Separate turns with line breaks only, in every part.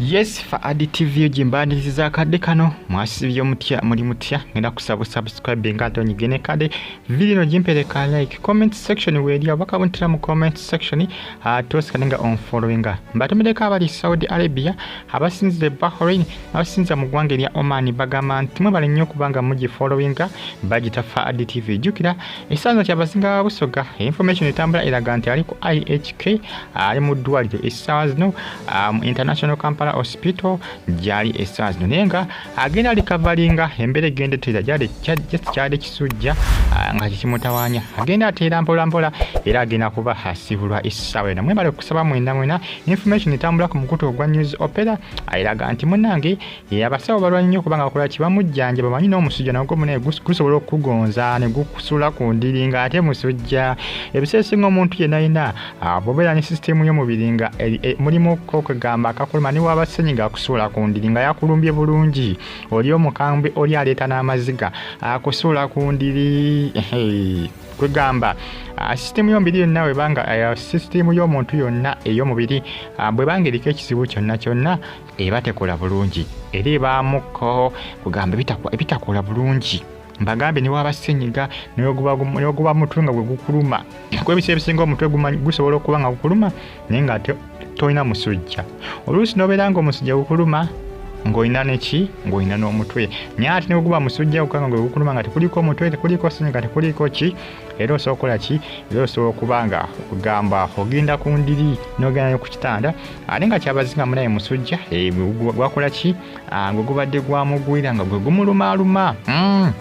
yes fa adi tv gimbaniriza akadde kano mwasibye mutya muli mutya ngenda kusaba subscribe nga ate onyige ne kade video no gimpereka like comment section weeri abaka buntira mu comment section ate osikalinga onfollowinga mbatemereko abali saudi arabia abasinzire bahrain abasinza mu ggwanga erya oman bagamba nti mwebale nnyo okubanga mugifolowinga bagita fa adtv jjukira ekisanza kya basinga ba busoga information etambula eraga nti ali ku ihk ali mu ddwaliro essaawa zino mu um, international kampala hospital gyali essaawa zino naye nga agenda alikavalinga embeera egenda eteera gyali just kyali kisujja uh, nga kikimutawanya agenda ateera mpolampola era agenda kuba asibulwa essaawa ena mwebale okusaba mwena mwena information etambula ku mukutu ogwa news opera ayiraga nti munange abasawo balwa nnyo kubanga bakola kibamujjanja bamanyi n'omusujja nagwo munaye gusobola okugonza ne gukusula ku ndiri nga ate musujja ebiseera esinga omuntu yenayina bobeera ne sisitemu y'omubiri nga e, e, mulimu kokugamba akakuluma ne waba senyiga akusuula ku ndiri nga yakulumbye bulungi oli omukambwe oli aleeta n'amaziga akusuula ku ndiri kwegamba ah, sisitimu yomubiri yonna webanga eh, sisitimu y'omuntu yonna ey'omubiri ah, bwebanga eriko ekizibu kyonna kyonna eba tekola bulungi era ebaamuko kugamba ebitakola bulungi mbagambye newaba senyiga neoguba mutwe nga gwegukuluma kuba ebiseera ebisinga omutwe gusobola okuba nga gukuluma naye nga tolina musujja oluusi nobeera nga omusujja gukuluma ng'olina neki ng'olina n'omutwe naye ate neguguba musujja gukanga nga gukuluma nga tekuliko mutwe tekuliko sinyi nga tekuliko ki era osobola okukola ki era osobola okuba nga ogamba ogenda ku ndiri n'ogenda ku kitanda ate nga kyabazinga munaye musujja eh, gwakola ki ah, nga ogubadde gwamugwira nga gwe gumulumaaluma hmm.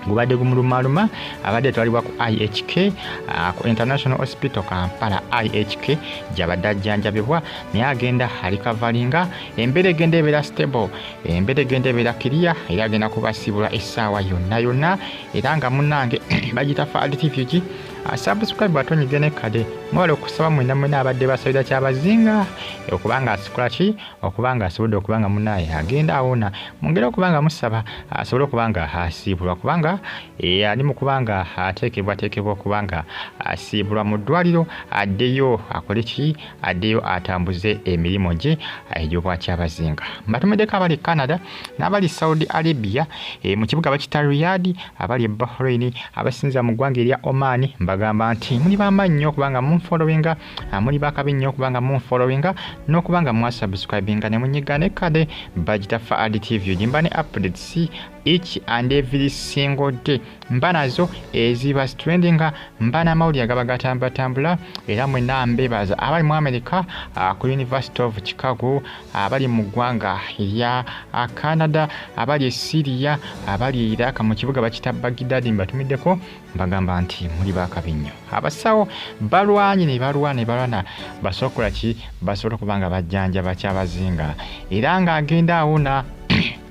gubadde gumulumaluma abadde etwalibwa ku ihk ah, ku international hospital kampala ihk gyabadde ajjanjabibwa naye agenda alikavalinga embeera egenda ebeera stable embeera egenda ebeera kiriya era agenda kubasiibula essaawa yonna yonna era nga munange bagita fad refuge ah, subscribe atonyige ne kade mwebale okusaba mwena mwena abadde basabira kyabazinga okubanga asikolaki okuba nga asobodde okuba nga munaaye agenda awona mwongere okuba nga musaba asobole okuba nga asiibulwa kubanga eh, ali mu kuba nga ateekebwateekebwa okuba nga asiibulwa mu ddwaliro addeyo akole ki addeyo atambuze emirimu gye eh, egy'obwakyabazinga mbatumeddeko abali canada n'abali saudi arabia eh, mu kibuga bakita riyadi abali bahrain abasinza mu ggwanga erya oman mbagamba nti muli bamaanyi nnyo okuba nga munfolowinga ah, muli bakabi nnyo okubanga munfollowinga n'okubanga mwasubscribinga ne munyiga ne kade bagitaffa ad tv ogimba ne updates each and every single day mba nazo eziba strendinga mba n'amawulire agaba gatambulatambula era mwena mbebaza abali mu america ah, ku university of chicago abali mu ggwanga erya ah, canada abali e syria abali e iraq mu kibuga bakita bagidadi mbatumiddeko bagamba nti muli bakabi nnyo abasawo balwanye ne balwa ne balwana basokola ki basobola okuba nga bajjanja bakyabazinga era ng'agenda awona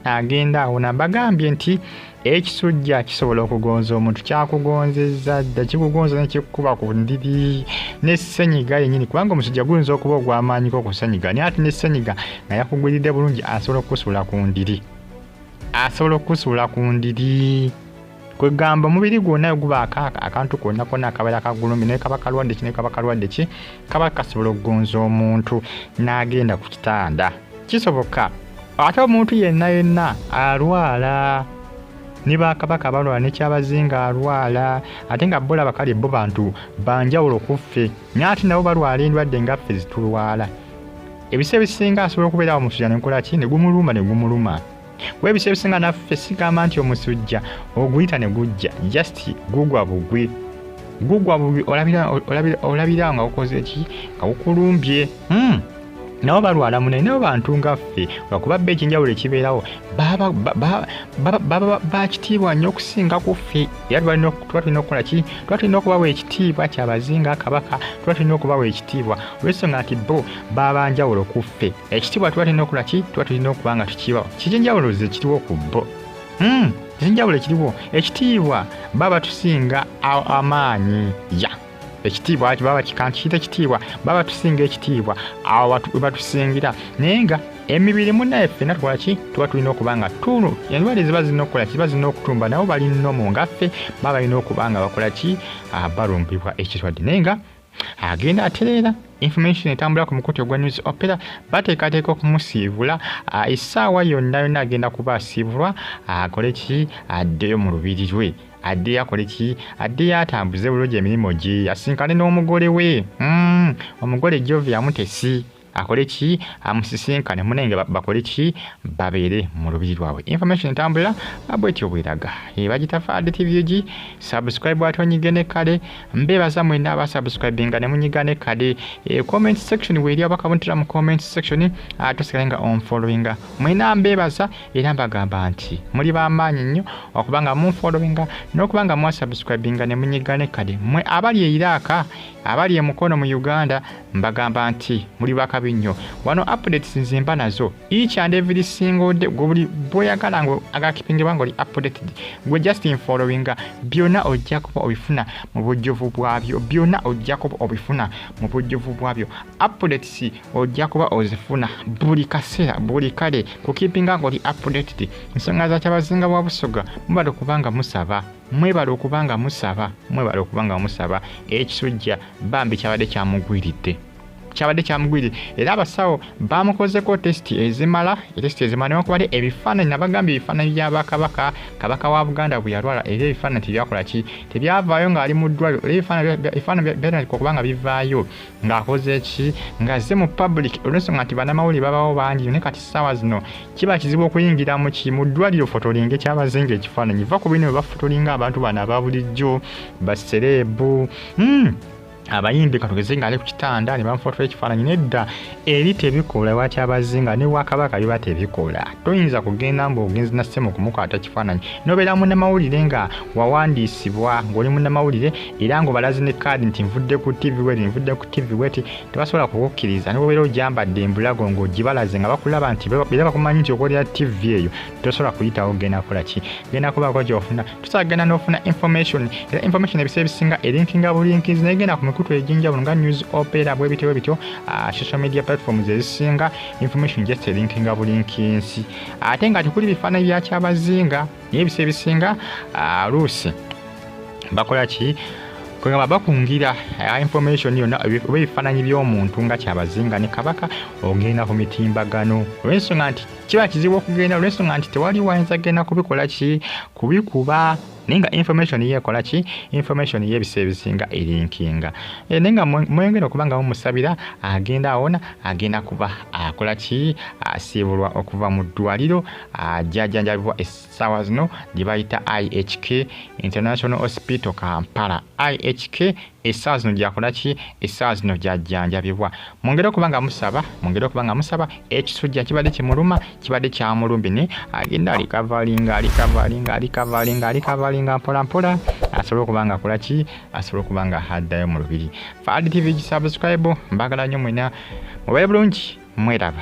agenda awona bagambye nti ekisujja kisobola okugonza omuntu kyakugonzeza dda kikugonza nekikukuba ku ndiri nesenyiga yenyini kubanga omusujja guyinza okuba ogwamaanyiko okusenyiga naye ati nesenyiga nga yakugwiridde bulungi asobola okukusuula ku ndiri asobola okukusuula ku ndiri kwegamba omubiri gwonna wegubaako akantu konna konna akabeera kagulumbi naye kaba kalwadde ki naye kaba kalwadde ki kaba kasobola okugonza omuntu n'agenda ku kitanda kisoboka ate omuntu yenna yenna alwala ne bakabaka balwala nekyabazinga alwala ate nga bola bakali bo bantu banjawulo kuffe naye ate nabo balwala endwadde ngaffe zitulwala ebisa ebisinga asobola okubeerawo musujja nenkolaki negumuluma negumuluma kuba ebiseera ebisinga naffe sigamba nti omusujja oguyita ne gujja just gugwa bugwi gugwa bugwi olabira nga ukoze ki nga gukulumbye hmm. nabo balwala munaye nabo bantu nga ffe lwakuba bba ekinjawulo ekibeerawo bakitiibwa nnyo okusinga ku ffe era tuba tulina okukola ki tuba tulina okubawa ekitiibwa kyabazinga kabaka tuba tulina okubawa ekitiibwa olwensonga nti bo babanjawulo ku ffe ekitibwa tuba tulina okula ki tuba tulina okuba nga tukibawa kiki enjawulo ze kiriwo ku bo hmm, kiki enjawulo ekiriwo ekitiibwa baba tusinga amaanyi ya ekitiibwa ati baba kikantu kiyita ekitiibwa baba tusinga ekitiibwa awo webatusingira naye nga emibiri munaye ffena tukola ki tuba tulina okuba nga tuno endwale ziba zirina okukola kiba zirina okutumba nabo balinomu ngaffe baba balina okuba nga bakola ki ah, balumbibwa ekirwadde naye nga agenda atereera information etambula ku mukutu ogwa news opera bateekateeka okumusiibula ah, essaawa yonna yonna agenda kuba asiibulwa akole ki addeyo mu lubiri lwe addeyo akole ki addeyo atambuze bulungi emirimu gye asinkane n'omugole we hmm, omugole jovia mutesi akole ki amusisinkane munenge bakole ki babeere mu lubiri lwabwe information entambulira bwetyo bweraga ebagitafaadde tvg subscribe ate onyige ne kale mbeebaza mwena aba subscribinga ne munyiga ne kale e, comment section weeri abakabuntira mu comment section atusigale nga onfollowinga mwena mbeebaza era mbagamba nti muli bamaanyi nnyo okuba nga munfollowinga n'okuba nga mwasubscribinga ne munyiga ne kale mwe abali eiraaka abali emukono mu uganda mbagamba nti muli bakabi nnyo wano updates nze mba nazo each and every single day gwe buli bwoyagala nga agakipingibwa nga oli updated gwe just in following byonna ojja kuba obifuna mu bujjuvu bwabyo byonna ojja kuba obifuna mu bujjuvu bwabyo updates ojja kuba ozifuna buli kaseera buli kale kukipinga nga oli updated ensonga za kyabazinga wa busoga mubale kubanga musaba mwebale okuba nga musaba mwebale okuba nga musaba ekisujja bambi kyabadde kyamugwiridde kyabadde kyamugwiridde era abasawo bamukozeko tesiti ezimala etesiti ezimala newankubadde ebifaananyi nabagambye ebifaananyi bya bakabaka kabaka wa buganda bwe yalwala era ebifaananyi tebyakola ki tebyavaayo ng'ali mu ddwaliro era ebifaananyi byatandika okuba nga bivaayo ng'akoze ki ng'azze mu public olwensonga nti banamawulire babawo bangi ne kati ssaawa zino kiba kizibu okuyingira mu ki mu ddwaliro fotolinga ekyabazinga ekifaananyi va ku bino bwe bafotolinga abantu bano aba bulijjo basereebu Hmm. abayimbi katugeze nga ali ku kitanda ne bamufotora ekifaananyi nedda eri tebikola lwaki abazzi nga ne wakabaka biba tebikola toyinza kugenda mbu ogenzi na ssemu okumukwata kifaananyi nobeera munamawulire nga wawandiisibwa ng'oli munamawulire era ng'obalazi ne kaadi nti nvudde ku tv wet nvudde ku tv wet tebasobola kukukkiriza nobeera ojambadde embulago ng'ogibalaze nga bakulaba nti era bakumanyi nti okolera tv eyo tosobola kuyitawo genda kukola ki genda kubaako gyofuna tusaagenda n'ofuna information era information ebiseera ebisinga elinkinga bulinkizi naye genda ku mikutu egy'enjawulo nga news opera bwe bityo bwe bityo ah, social media platforms ezisinga information just elinkinga bulinkinsi ate nga tekuli bifaananyi bya kyabazinga naye ebiseera ebisinga ah, luusi bakola ki kwegamba bakungira eh, information yonna oba ebifaananyi by'omuntu nga kyabazinga ne kabaka ogenda ku mitimbagano olw'ensonga nti kiba kizibu okugenda olwensonga nti tewali wayinza kugenda kubikola ki kubikuba naye nga information ye ekola ki information ye ebiseera ebisinga elinkinga e, naye nga mweyongera okuba nga mumusabira agenda awona agenda kuba akola ki asiibulwa okuva mu ddwaliro ajajanjabibwa essaawa zino gye bayita ihk international hospital kampala ihk essaawa zino gyakola ki essaawa zino gyajjanjabibwa mwongere okuba nga musaba mwongere okuba nga musaba ekisujja kibadde kimuluma kibadde kyamulumbi ne agenda alikavalinga alikavalinga alikavalinga alikavalinga mpolampola asobole okuba nga akola ki asobole okuba nga addayo mu lubiri faadi tv gisabuscribe mbagala nnyo mwena mubaye bulungi mweraba